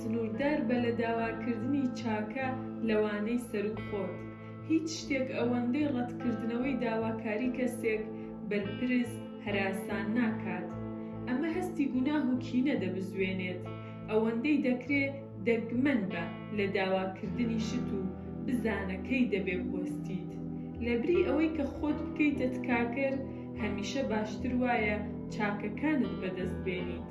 سنووردار بە لە داواکردنی چاکە لەوانەی سەروو خۆت. هیچ شتێک ئەوەندەی ڕەتکردنەوەی داواکاری کەسێک، بەرپرس، هەراسان ناکات. ئەمە هەستی گوناه و کینە دەبزوێنێت. ئەوەندەی دەکرێ دەگمەن بە لە داواکردنی شت و بزانە کەی دەبێ بوەستیت. لەبری ئەوەی کە خۆت بکەیتە تکاکەر، هەمیشە باشتر وایە چاکەکانت بەدەست بێنیت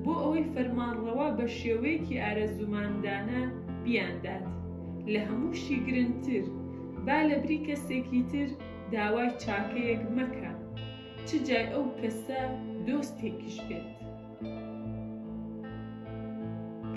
بۆ ئەوەی فەرمانڕەوا بە شێوەیەکی ئارەزومەندانە بیاندات، لە هەمووشی گرنتر با لە بری کەسێکی تر داوای چاکەیەک مەکە چ جای ئەو کەسە دۆستێکیش بێت.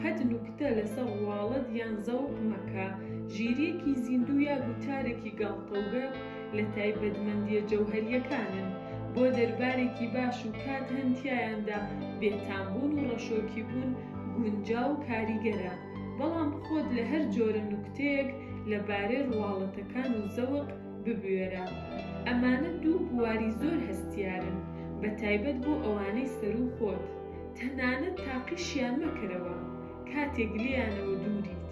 قەت نوکتە لەسەر ڕواڵەت یان زەوق مەکە، ژیرییەکی زیندوو یا گوتارێکی گاڵتەوگەپ لە تایبەتمەندییە جەوهەرییەکانن، بۆ دەربارێکی باش و کات هەن تیایاندا بێتامبوون و ڕەشۆکیبوون گونجاو و کاریگەرە، بەڵام خۆت لە هەر جۆرە نوکتەیەک لەبارەی ڕواڵەتەکان و زەوق ببوێرە ئەمانە دوو بواری زۆر هەستیارن بە تایبەت بۆ ئەوانەی سەروو خۆت تەنانەت تاقیشیان مەکەرەوە کاتێک لێیانەوە دووریت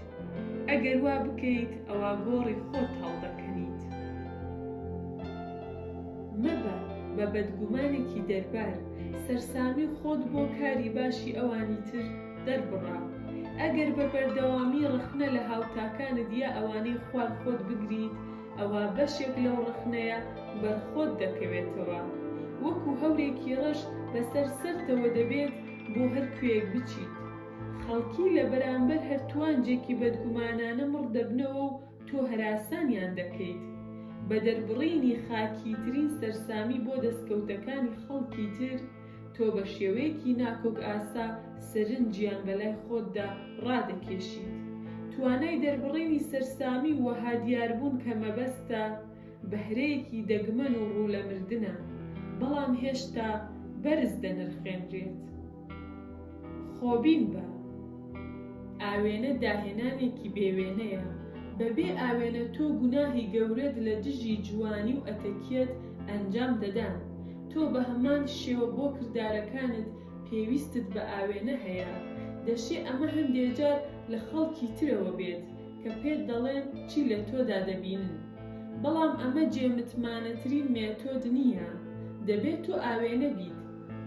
ئەگەر وا بکەیت ئەوا گۆڕی خۆت هەڵدەکەنیت مەبە بە بەدگومانێکی دەربار سەرسامی خۆت بۆ کاری باشی ئەوانی تر دەربڕە ئەگەر بە بەردەوامی ڕەخنە لە هاوتاکانت یا ئەوانەی خوار خۆت بگریت ئەوا بەشێک لەو ڕەخنەیە بەر خۆت دەکەوێتەوە. وەکو هەورێکی ڕەش بەسەر سەرتەوە دەبێت بۆ هەر کوێیەک بچیت. خەڵکی لە بەرامبەر هەر توانجێکی بەدگومانانە مڕ دەبنەوە و تۆ هەراسانیان دەکەیت. بە دەربڕینی خاکیترین سەرسامی بۆ دەستکەوتەکانی خەڵکی تر، تۆ بە شێوەیەکی ناکۆک ئاسا سەرنجیان بە لای خۆتدا ڕادەکێشیت. توانای دەربڕینی سەرسامی و وەها دیاربوون کە مەبەستە، بەهرەیەکی دەگمەن و ڕوو لە مردنە، بەڵام هێشتا بەرز دەنرخێنرێت. خۆبین بە ئاوێنە داهێنانێکی بێ وێنەیە، بە بێ ئاوێنە تۆ گوناهی گەورەت لە دژی جوانی و ئەتەکیەت ئەنجام دەدان، تۆ بە هەمان شێوە بۆ کردارەکانت پێویستت بە ئاوێنە هەیە، دەشێ ئەمە هەندێ جار لە خەڵکی ترەوە بێت کە پێت دەڵێن چی لە تۆدا دەبینن، بەڵام ئەمە جێ متمانەترین مێتۆد نییە، دەبێت تۆ ئاوێنە بیت.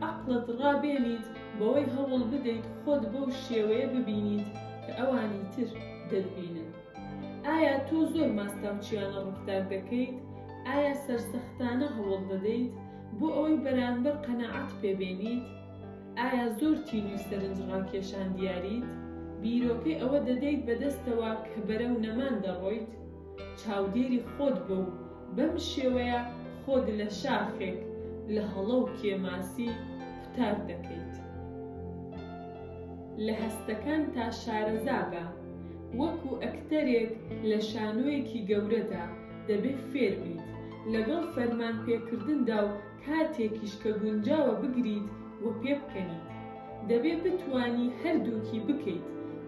عەقڵت ڕابێنیت بەوەی هەوڵ بدەیت خۆت بەو شێوەیە ببینیت کە ئەوانی تر دەتبینن. ئایا تۆ زۆر ماستاوچییانە ڕەفتار دەکەیت؟ ئایا سەرسەختانە هەوڵ دەدەیت بۆ ئەوەی بەرانبەر قەناعەت پێ بێنیت؟ ئایا زۆر تینووی سەرنج ڕاکێشان دیاریت؟ بیرۆکەی ئەوە دەدەیت بەدەستەوە کە بەرەو نەمان دەڕۆیت؟ چاودێری خۆت بە و بەم شێوەیە خۆت لە شاخێک لە هەڵە و کێماسی قوتار دەکەیت. لە هەستەکانتا شارەزا بە، وەکو ئەکتەرێک لە شانۆیەکی گەورەدا، دەبێ فێربیت لەگەڵ فەرمانپێکردندا و کاتێکیش کە گونجاوە بگریت و پێبکەنیت، دەبێت بتوانی هەردووکی بکەیت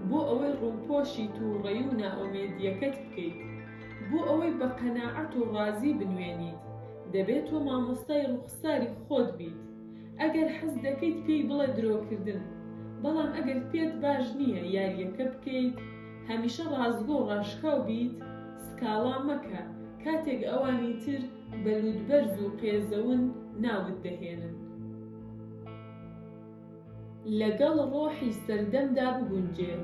بۆ ئەوەی ڕووپۆشی تووڕەیی و نائومێدییەکەت بکەیت. بۆ ئەوەی بە قەناعەت و ڕازی بنوێنیت، دەبێت تۆ مامۆستای ڕووخساری خۆت بیت. ئەگەر حەز دەکەیت پێی بڵێ درۆکردن، بەڵام ئەگەر پێت باش نییە یارییەکە بکەیت، هەمیشە ڕاستگۆ و ڕاشکاو بیت، سکاڵا مەکە کاتێک ئەوانی تر بە لووتبەرز و قێزەون ناوت دەهێنن. لەگەڵ ڕۆحی سەردەمدا بگونجێ،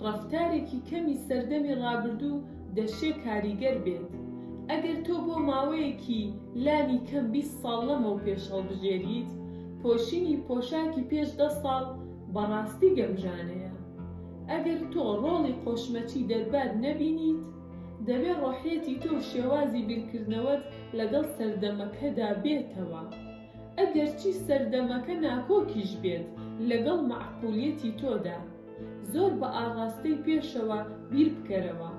ڕەفتارێکی کەمی سەردەمی ڕابردوو دەشێ کاریگەر بێت. ئەگەر تۆ بۆ ماوەیەکی لانی کەم بیست ساڵ لەمەوپێش هەڵبژێریت، پۆشینی پۆشاکی پێش دە ساڵ بە ڕاستی گەمژانەیە. ئەگەر تۆ ڕۆڵی قۆشمەچی دەربار نەبینیت، دەبێ ڕۆحیەتی تۆ و شێوازی بیرکردنەوەت لەگەڵ سەردەمەکەدا بێتەوە. ئەگەرچی سەردەمەکە ناکۆکیش بێت لەگەڵ مەعقولیەتی تۆدا، زۆر بە ئاڕاستەی پێشەوە بیربکەرەوە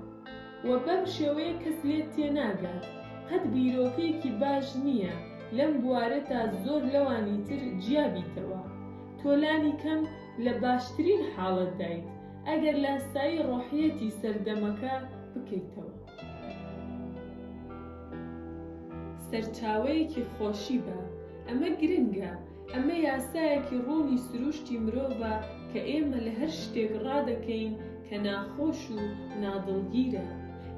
و بەم شێوەیە کەس لێت تێناگات. قەت بیرۆکەیەکی باش نییە لەم بوارەتا زۆر لەوانی تر جیابیتەوە. تۆ لانی کەم لە باشترین حاڵەتدایت. ئەگەر لاسایی ڕۆحیەتی سەردەمەکە بکەیتەوە. سەرچاوەیەکی خۆشی بە. ئەمە گرنگە. ئەمە یاسایەکی ڕوونی سرووشتی مرۆڤە کە ئێمە لە هەر شتێک ڕادەکەین کە ناخۆش و نادڵگیرە،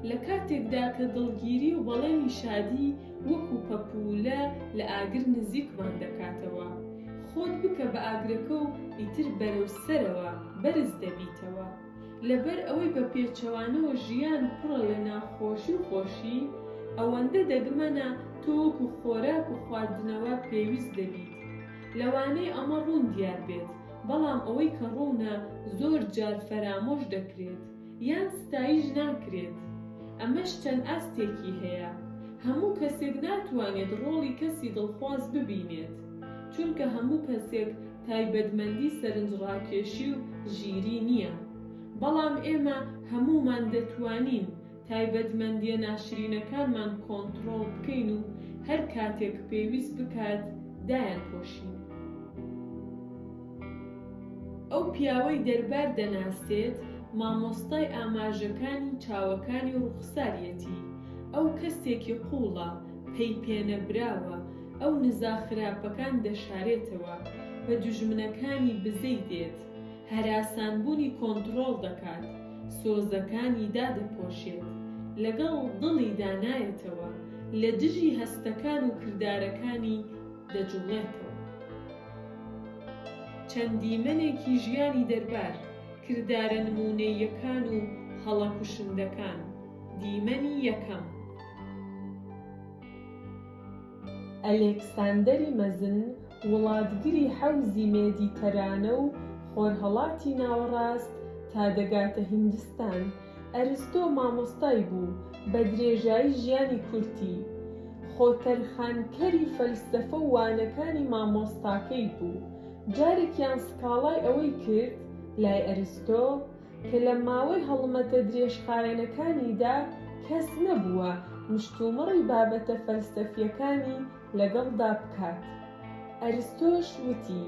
لە کاتێکدا کە دڵگیری و بەڵێنی شادی وەکوو پەپوولە لە ئاگر نزیکمان دەکاتەوە. خۆت بکە بە ئاگرەکە و ئیتر بەرەو سەرەوە بەرز دەبیتەوە. لەبەر ئەوەی بە پێچەوانەوە ژیان پڕە لە ناخۆشی و خۆشی، ئەوەندە دەگمەنە تۆ وەکو خۆراک و خواردنەوە پێویست دەبیت. لەوانەیە ئەمە ڕوون دیار بێت، بەڵام ئەوەی کە ڕوونە زۆر جار فەرامۆش دەکرێت. یان ستایش ناکرێت، ئەمەش چەند ئاستێکی هەیە، هەموو کەسێک ناتوانێت ڕۆڵی کەسی دڵخواز ببینێت، چونکە هەموو کەسێک تایبەتمەندی سەرنجڕاکێشی و ژیری نییە، بەڵام ئێمە هەموومان دەتوانین تایبەتمەندییە ناشرینەکانمان کۆنتڕۆڵ بکەین و هەر کاتێک پێویست بکات دایانپۆشین. ئەو پیاوەی دەربار دەناسێت مامۆستای ئاماژەکانی چاوەکانی و ڕوخساریەتی ئەو کەسێکی قوڵە پەی پێنەبراوە ئەو نزا خراپەکان دەشارێتەوە بە دوژمنەکانی بزەی دێت هەراسان بونی کۆنتڕۆڵ دەکات سۆزەکانی دادەپۆشێت لەگەڵ دڵیدا نایەتەوە لە دژی هەستەکان و کردارەکانی دەجوڵێتەوە. چەند دیمەنێکی ژیانی دەربار، کردارە نموونەییەکان و هەڵە کوشندەکان، دیمەنی یەکەم. ئەلێکساندەری مەزن وڵاتگری حەوزی مێدیتەرانە و خۆرهەڵاتی ناوەڕاست تا دەگاتە هیندستان، ئەرستۆ مامۆستای بوو بە درێژایی ژیانی کورتی، خۆتەرخانکەری فەلسەفە و وانەکانی مامۆستاکەی بوو، جارێکیان سکاڵای ئەوەی کرد لای ئەرستۆ کە لە ماوەی هەڵمەتە درێژخایەنەکانیدا کەس نەبووە مشتومڕی بابەتە فەلسەفییەکانی لەگەڵدا بکات. ئەرستۆش وتی،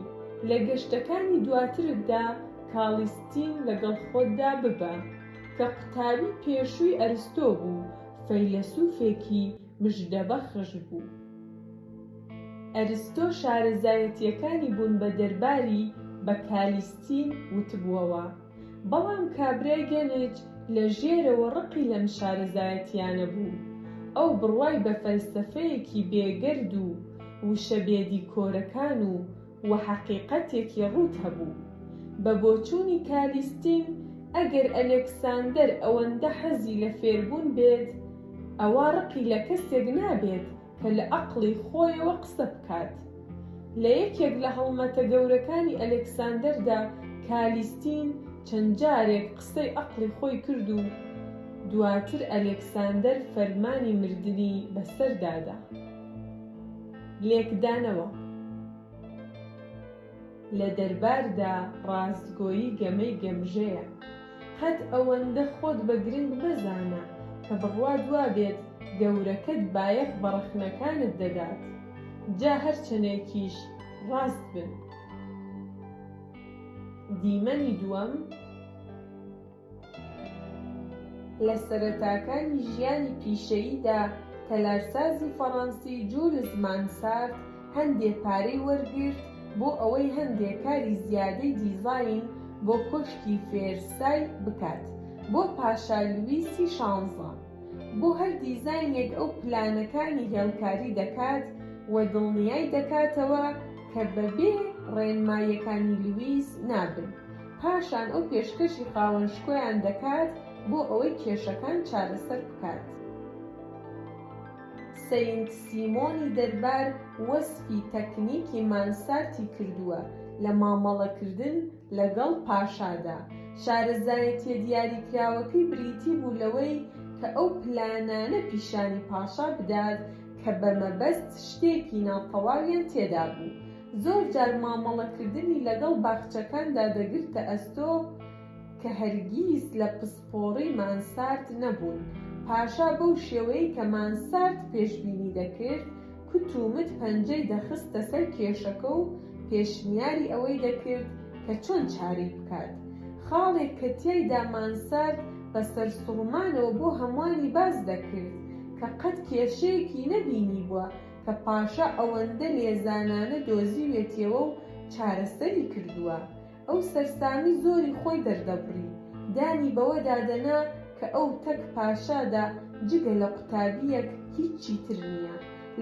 لە گەشتەکانی دواترتدا کاڵیستین لەگەڵ خۆتدا ببە، کە قوتابی پێشووی ئەرستۆ بوو، فەیلەسوفێکی مژدەبەخش بوو. ئەرستۆ شارەزایەتییەکانی بوون بە دەرباری بە کالیستین وتبووەوە. بەڵام کابرای گەنج لە ژێرەوە ڕقی لەم شارەزایەتییانە بوو. ئەو بڕوای بە فەلسەفەیەکی بێگەرد و وشە بێدیکۆرەکان و و حەقیقەتێکی ڕووت هەبوو. بە بۆچوونی کالیستین ئەگەر ئەلێکساندەر ئەوەندە حەزی لە فێربوون بێت، ئەوا ڕقی لە کەسێک نابێت کە لە ئەقڵی خۆیەوە قسە بکات. لە یەکێک لە هەڵمەتە گەورەکانی ئەلێکساندەردا کالیستین چەند جارێک قسەی ئەقڵی خۆی کرد و دواتر ئەلێکساندەر فەرمانی مردنی بەسەردا دا. لێکدانەوە. لە دەرباردا ڕاستگۆیی گەمەی گەمژەیە. قەت ئەوەندە خۆت بە گرنگ مەزانە کە بڕوات وابێت گەورەکەت بایەخ بە ڕەخنەکانت دەدات، جا هەر چەنێکیش ڕاست بن. دیمەنی دووەم. لە سەرەتاکانی ژیانی پیشەییدا، تەلارسازی فەڕەنسی جولز مانسارت هەندێ پارەی وەرگرت بۆ ئەوەی هەندێ کاری زیادەی دیزاین بۆ کۆشکی فێرسای بکات بۆ پاشا لویسی شانزە. بۆ هەر دیزاینێک ئەو پلانەکانی هێڵکاری دەکات و دڵنیای دەکاتەوە کە بەبێ ڕێنماییەکانی لویس نابن. پاشان ئەو پێشکەشی خاوەن شکۆیان دەکات بۆ ئەوەی کێشەکان چارەسەر بکات. سەینت سیمۆنی دەربار وەسفی تەکنیکی مانسارتی کردووە لە مامەڵەکردن لەگەڵ پاشادا. شارەزایەتییە دیاریکراوەکەی بریتی بوو لەوەی کە ئەو پلانانە پیشانی پاشا بدات کە بەمەبەست شتێکی ناتەواویان تێدا بوو، زۆر جار مامەڵەکردنی لەگەڵ باخچەکاندا دەگرتە ئەستۆ کە هەرگیز لە پسپۆڕی مانسارد نەبوون. پاشا بەو شێوەیەی کە مانسارد پێشبینی دەکرد، کوت و مت پەنجەی دەخستە سەر کێشەکە و پێشنیاری ئەوەی دەکرد کە چۆن چارەی بکات. خاڵێک کە تیایدا مانسارد بە سەرسوڕمانەوە بۆ هەمووانی باس دەکرد کە قەت کێشەیەکی نەبینیبووە، کە پاشا ئەوەندە لێزانانە دۆزیوێتیەوە و چارەسەری کردووە، ئەو سەرسامی زۆری خۆی دەردەبڕی، دانی بەوەدا دەنا کە ئەو تەک پاشادا جگە لە قوتابییەک هیچی تر نییە،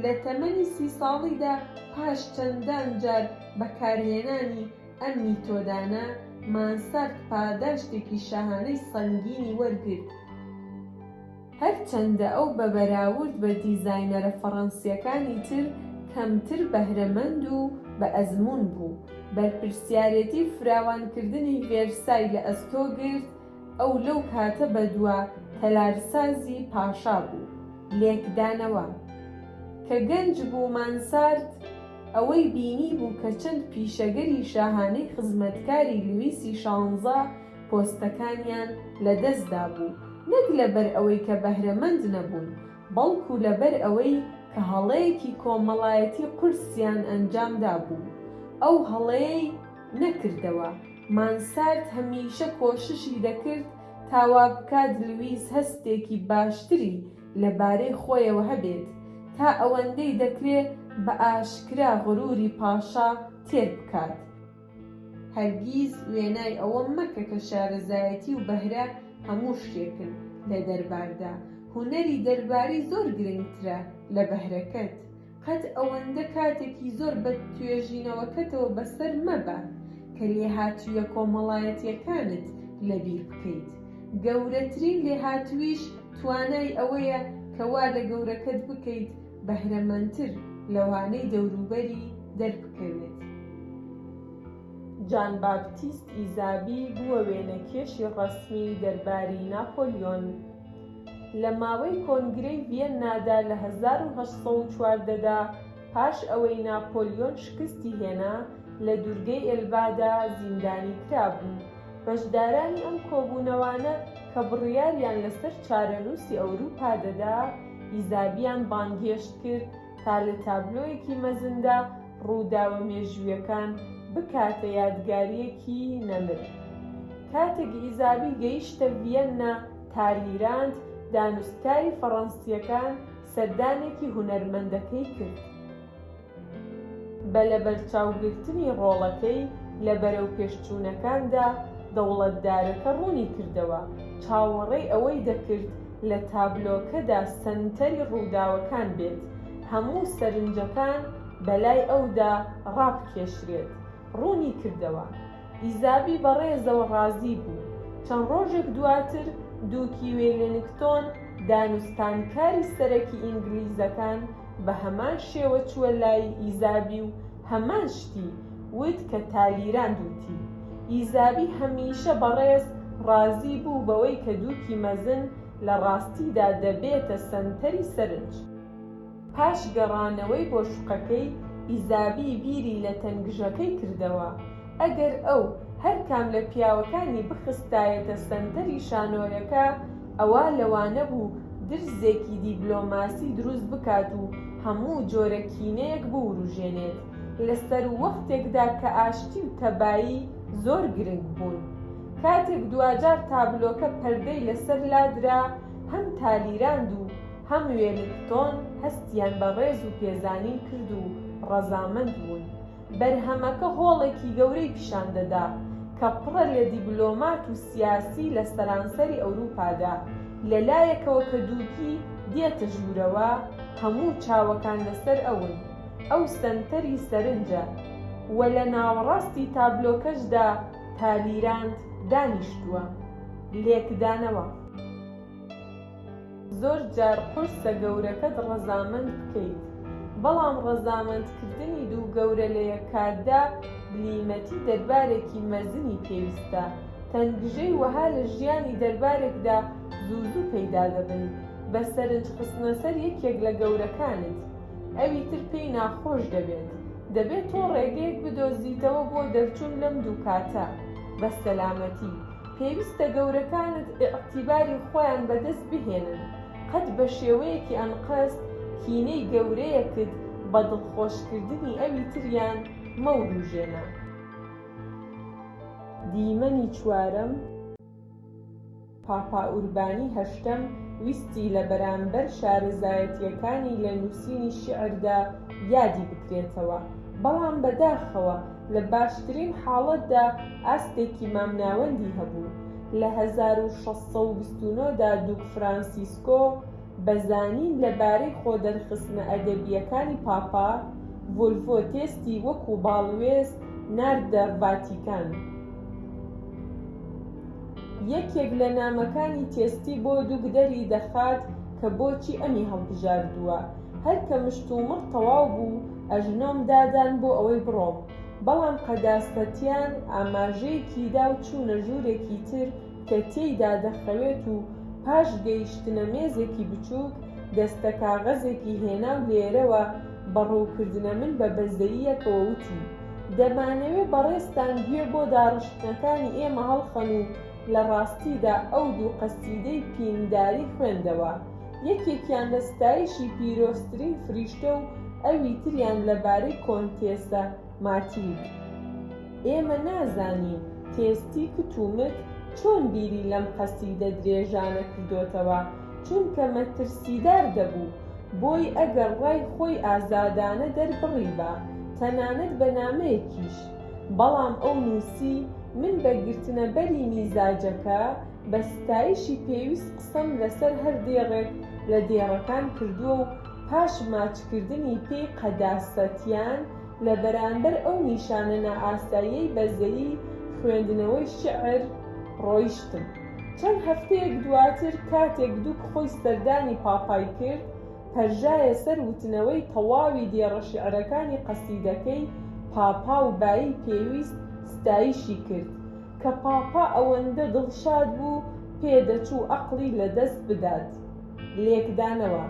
لە تەمەنی سی ساڵیدا پاش چەندان جار بەکارهێنانی ئەم میتۆدانە، مانسارد پاداشتێکی شاهانەی سەنگینی وەرگرت. هەرچەندە ئەو بە بەراورد بە دیزاینەرە فەڕەنسییەکانی تر کەمتر بەهرەمەند و بە ئەزموون بوو، بەرپرسیارێتی فراوانکردنی ڤێرسای لە ئەستۆ گرت، ئەو لەو کاتە بەدوا تەلارسازی پاشا بوو. لێکدانەوە، کە گەنج بوو مانسارت ئەوەی بینیبوو کە چەند پیشەگەری شاهانەی خزمەتکاری لویسی شانزە، پۆستەکانیان لەدەستدابوو، نەک لەبەر ئەوەی کە بەهرەمەند نەبوون، بەڵکو لەبەر ئەوەی کە هەڵەیەکی کۆمەڵایەتی قورسیان ئەنجامدابوو. ئەو هەڵەیەی نەکردەوە. مانسارد هەمیشە کۆششی دەکرد تا وا بکات لویس هەستێکی باشتری لەبارەی خۆیەوە هەبێت، تا ئەوەندەی دەکرێ بە ئاشکرا غروری پاشا تێر بکات. هەرگیز وێنای ئەوە مەکە کە شارەزایەتی و بەهرە هەموو شتێکن لە دەرباردا، هونەری دەرباری زۆر گرنگترە لە بەهرەکەت، قەت ئەوەندە کاتێکی زۆر بە توێژینەوەکەتەوە بەسەر مەبە کە لێهاتوویە کۆمەڵایەتییەکانت لەبیر بکەیت، گەورەترین لێهاتوویش توانای ئەوەیە کە وا لە گەورەکەت بکەیت بەهرەمەندتر لەوانەی دەوروبەری دەربکەوێت. جان باپتیست ئیزابی بووە وێنەکێشی ڕەسمی دەرباری ناپۆلیۆن. لە ماوەی کۆنگرەی ڤیەننادا لە هەزار و هەشت سەد و چواردە دا، پاش ئەوەی ناپۆلیۆن شکستی هێنا، لە دوورگەی ئێلبادا زیندانی کرابوو. بەشدارانی ئەم کۆبوونەوانە کە بڕیاریان لەسەر چارەنووسی ئەورووپا دەدا، ئیزابیان بانگهێشت کرد تا لە تابلۆیەکی مەزندا ڕووداوە مێژوویەکان بکاتە یادگارییەکی نەمر. کاتێک ئیزابی گەیشتە ڤیەننا، تالیراند، دانوستکاری فەڕەنسییەکان سەردانێکی هونەرمەندەکەی کرد. بە لەبەرچاوگرتنی ڕۆڵەکەی لە بەرەوپێشچوونەکاندا، دەوڵەتدارەکە ڕوونی کردەوە، چاوەڕێی ئەوەی دەکرد لە تابلۆکەدا سەنتەری ڕووداوەکان بێت، هەموو سەرنجەکان بەلای ئەودا ڕابکێشرێت. ڕوونی کردەوە، ئیزابی بە ڕێزەوە ڕازی بوو. چەند ڕۆژێک دواتر، دووکی وێلینگتۆن، دانوستانکاری سەرەکی ئینگلیزەکان، بە هەمان شێوە چووە لای ئیزابی و هەمان شتی وت کە تالیراند وتی. ئیزابی هەمیشە بەڕێز ڕازی بوو بەوەی کە دووکی مەزن لە ڕاستیدا دەبێتە سەنتەری سەرنج. پاش گەڕانەوەی بۆ شوقەکەی، ئیزابی بیری لە تەنگژەکەی کردەوە. ئەگەر ئەو هەر کام لە پیاوەکانی بخستایەتە سەنتەری شانۆیەکە، ئەوە لەوانە بوو درزێکی دیبلۆماسی دروست بکات و هەموو جۆرە کینەیەک بووروژێنێت لە سەروەختێکدا کە ئاشتی و تەبایی زۆر گرنگ بوون. کاتێک دواجار تابلۆکە پەردەی لەسەر لادرا، هەم تالیراند و هەم وێلینگتۆن هەستیان بە ڕێز و پێزانین کرد و ڕەزامەند بوون. بەرهەمەکە هۆڵێکی گەورەی پیشان دەدا کە پڕە لە دیبلۆمات و سیاسی لە سەرانسەری ئەوروپادا، لە لایەکەوە کە دووگی دێتە ژوورەوە هەموو چاوەکان لەسەر ئەون، ئەو سەنتەری سەرنجە، و لە ناوەڕاستی تابلۆکەشدا تالیراند دانیشتووە. لێکدانەوە. زۆر جار قورسە گەورەکەت ڕەزامەند بکەیت، بەڵام ڕەزامەندکردنی دوو گەورە لە یەک کاتدا بلیمەتی دەربارێکی مەزنی پێویستە. تەنگژەی وەها لە ژیانی دەربارێکدا زوو زوو پەیدا دەبن، بە سەرنج خستنە سەر یەکێک لە گەورەکانت، ئەوی تر پێی ناخۆش دەبێت. دەبێت تۆ ڕێگەیەک بدۆزیتەوە بۆ دەرچوون لەم دوو کاتە بە سەلامەتی. پێویستە گەورەکانت ئیعتیباری خۆیان بەدەست بهێنن، قەت بە شێوەیەکی ئەنقەست کینەی گەورەیەکت بە دڵخۆشکردنی ئەوی تریان مەوروژێنە. دیمەنی چوارەم، پاپا ئوربانی هەشتەم ویستی لە بەرامبەر شارەزایەتییەکانی لە نووسینی شیعردا یادی بکرێتەوە، بەڵام بەداخەوە لە باشترین حاڵەتدا ئاستێکی مامناوەندی هەبوو، لە هەزار و شەش سەد و بیست و نۆ دا دوک فرانسیسکۆ بە زانین لەبارەی خۆدەرخستنە ئەدەبییەکانی پاپا، ڤۆلڤۆ تێستی وەکوو باڵوێز ناردە ڤاتیکان. یەکێک لە نامەکانی تێستی بۆ دوک دەری دەخات کە بۆچی ئەمی هەڵبژاردووە، هەر کە مشتومڕ تەواو بوو، ئەژنۆم دادان بۆ ئەوەی بڕۆم، بەڵام قەداس پەتیان ئاماژەیەکی دا و چوونە ژوورێکی تر کە تێیدا دەخەوێت و پاش گەیشتنە مێزێکی بچووک، دەستە کاغەزێکی هێنا و لێرەوە بە ڕووکردنە من بە بەزەییەکەوە وتی، دەمانەوێ بەڕێزتان گوێ بۆ داڕشتنەکانی ئێمە هەڵخەن و لە ڕاستیدا ئەو دوو قەسیدەی پینداری خوێندەوە. یەکێکیان لە ستایشی پیرۆزترین فریشتە و ئەوی تریان لەبارەی کۆنتێسە ماتیلد. ئێمە نازانین تێستی کت و مت چۆن بیری لەم قەسیدە درێژانە کردۆتەوە، چونکە مەترسیدار دەبوو، بۆی ئەگەر ڕای خۆی ئازادانە دەربڕیبا، تەنانەت بە نامەیەکیش، بەڵام ئەو نووسی، من بە گرتنەبەری میزاجەکە، بە ستایشی پێویست قسەم لەسەر هەر دێڕێک لە دێڕەکان کردووە و پاش ماچکردنی پێی قەداسەتیان لە بەرامبەر ئەو نیشانە نائاساییەی بەزەیی خوێندنەوەی شیعر ڕۆیشتم. چەند هەفتەیەک دواتر کاتێک دوک خۆی سەردانی پاپای کرد، پەرژایە سەر وتنەوەی تەواوی دێڕە شیعرەکانی قەسیدەکەی پاپا و بایی پێویست ستایشی کرد، کە پاپا ئەوەندە دڵشاد بوو پێدەچوو ئەقڵی لەدەست بدات. لێکدانەوە،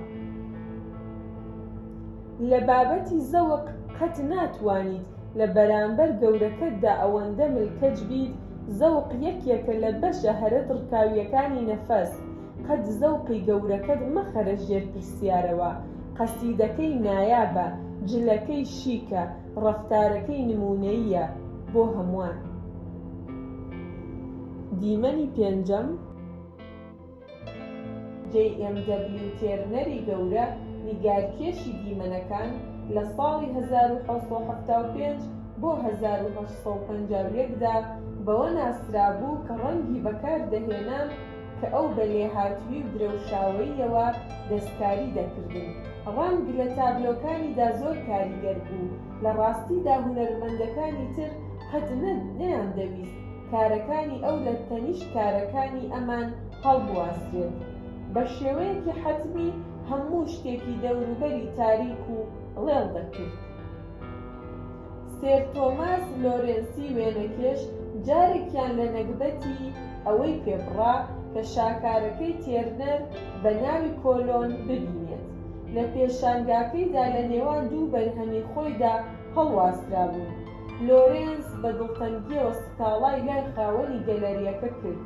لە بابەتی زەوق قەت ناتوانیت لە بەرامبەر گەورەکەتدا ئەوەندە ملکەچ بیت، زەوق یەکێکە لە بەشە هەرە دڕکاوییەکانی نەفەس، قەت زەوقی گەورەکەت مەخەرە ژێر پرسیارەوە، قەسیدەکەی نایابە، جلەکەی شیکە، ڕەفتارەکەی نموونەییە بۆ هەمووان. دیمەنی پێنجەم. جەی ئێم دەبلیو تێرنەری گەورە نیگارکێشی دیمەنەکان لە ساڵی هەزار و حەوت سەد و حەفتا و پێنج بۆ هەزار و هەشت سەد و پەنجا و یەک دا بەوە ناسرابوو کە ڕەنگی بەکاردەهێنا کە ئەو بە لێهاتووی و درەوشاوەییەوە دەستکاری دەکردن، ڕەنگ لە تابلۆکانیدا زۆر کاریگەر بوو، لە ڕاستیدا هونەرمەندەکانی تر قەت نە نەیاندەویست کارەکانی ئەو لە تەنیشت کارەکانی ئەمان هەڵبواسرێت، بە شێوەیەکی حەتمی هەموو شتێکی دەوروبەری تاریک و ڵێڵ دەکرد. سێر تۆماس لۆرێنسی وێنەکێش جارێکیان لە نەگبەتی ئەوەی پێ بڕا کە شاکارەکەی تێرنەر بە ناوی کۆلۆن ببینێت لە پێشانگاکەیدا لە نێوان دوو بەرهەمی خۆیدا هەڵواسرابوون. لۆرێنس بە دڵتەنگییەوە سکاڵای لای خاوەنی گەلەرییەکە کرد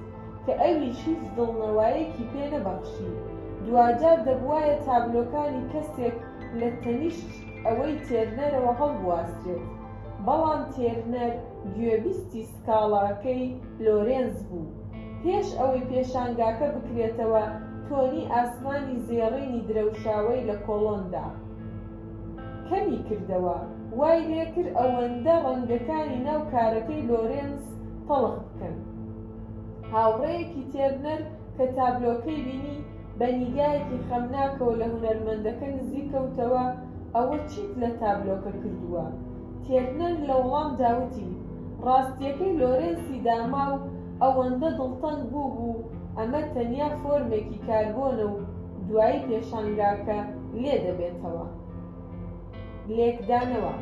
کە ئەویش هیچ دڵنەوایەکی پێ نەبەخشی، دواجار دەبووایە تابلۆکانی کەسێک لە تەنیشت، ئەوەی تێرنەرەوە هەڵبواسرێت، بەڵام تێرنەر گوێبیستی سکاڵاکەی لۆرێنز بوو. پێش ئەوەی پێشانگاکە بکرێتەوە، تۆنی ئاسمانی زێڕینی درەوشاوەی لە کۆڵۆندا کەمی کردەوە، وای لێ کرد ئەوەندە ڕەنگەکانی ناو کارەکەی لۆرێنز تەڵخ بکەن. هاوڕێیەکی تێرنەر کە تابلۆکەی بینی، بە نیگایەکی خەمناکەوە لە هونەرمەندەکە نزیک کەوتەوە، ئەوە چیت لە تابلۆکە کردووە؟ تێرنەر لە وەڵامدا وتی، ڕاستییەکەی لۆرێنسی داما و ئەوەندە دڵتەنگ بووبوو، ئەمە تەنیا فۆرمێکی کاربۆنە و دوایی پێشانگاکە لێ دەبێتەوە. لێکدانەوە،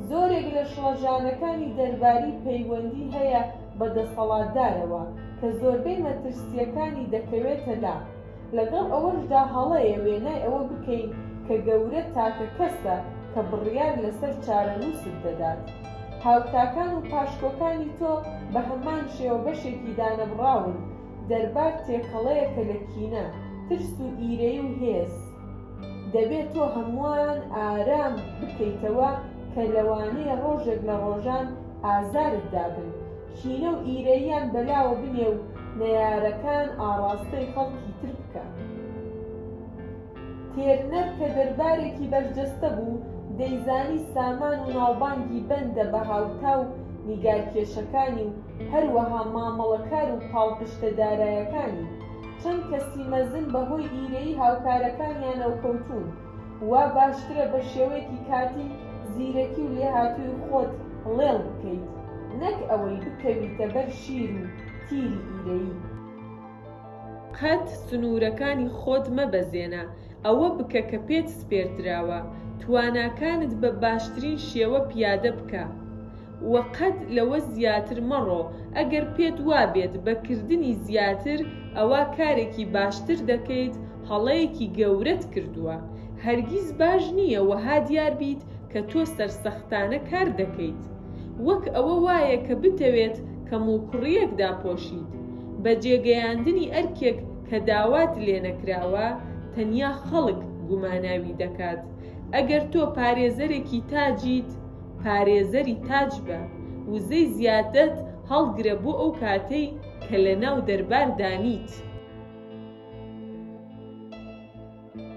زۆرێک لە شڵەژانەکانی دەرباری پەیوەندی هەیە بە دەسەڵاتدارەوە کە زۆربەی مەترسییەکانی دەکەوێتە لا، لەگەڵ ئەوەشدا هەڵەیە وێنای ئەوە بکەین کە گەورە تاکە کەسە کە بڕیار لەسەر چارەنووست دەدات. هاوتاکان و پاشکۆکانی تۆ بە هەمان شێوە بەشێکی دانەبڕاون، دەربار تێکەڵەیەکە لە کینە، ترس و ئیرەیی و هێز. دەبێت تۆ هەمووان ئارام بکەیتەوە کە لەوانەیە ڕۆژێک لە ڕۆژان ئازارت دابن، کینە و ئیرەییان بەلاوە بنێ و نەیارەکان ئاڕاستەی خەڵکی تر بکە. تێرنەر کە دەربارێکی بەرجەستە بوو، دەیزانی سامان و ناوبانگی بەندە بە هاوتا و نیگارکێشەکانی و هەروەها مامەڵەکار و پاڵپشتە دارایەکانی، چەند کەسی مەزن بەهۆی ئیرەیی هاوکارەکانیانەوە کەوتوون، وا باشترە بە شێوەیەکی کاتی زیرەکی و لێهاتووی خۆت ڵێڵ بکەیت، نەک ئەوەی بکەویتە بەر شیر و تیری ئیرەیی. قەت سنوورەکانی خۆت مەبەزێنە، ئەوە بکە کە پێت سپێردراوە، تواناکانت بە باشترین شێوە پیادە بکە. و قەت لەوە زیاتر مەڕۆ، ئەگەر پێت وابێت بە کردنی زیاتر ئەوا کارێکی باشتر دەکەیت هەڵەیەکی گەورەت کردووە، هەرگیز باش نییە وەها دیار بیت کە تۆ سەرسەختانە کار دەکەیت وەک ئەوە وایە کە بتەوێت کەموکوڕییەک داپۆشیت بە جێگەیاندنی ئەرکێک کە داوات لێنەکراوە، تەنیا خەڵک گوماناوی دەکات ئەگەر تۆ پارێزەرێکی تاجیت، پارێزەری تاج بە، وزەی زیادەت هەڵگرە بۆ ئەو کاتەی کە لەناو دەربار دانیت.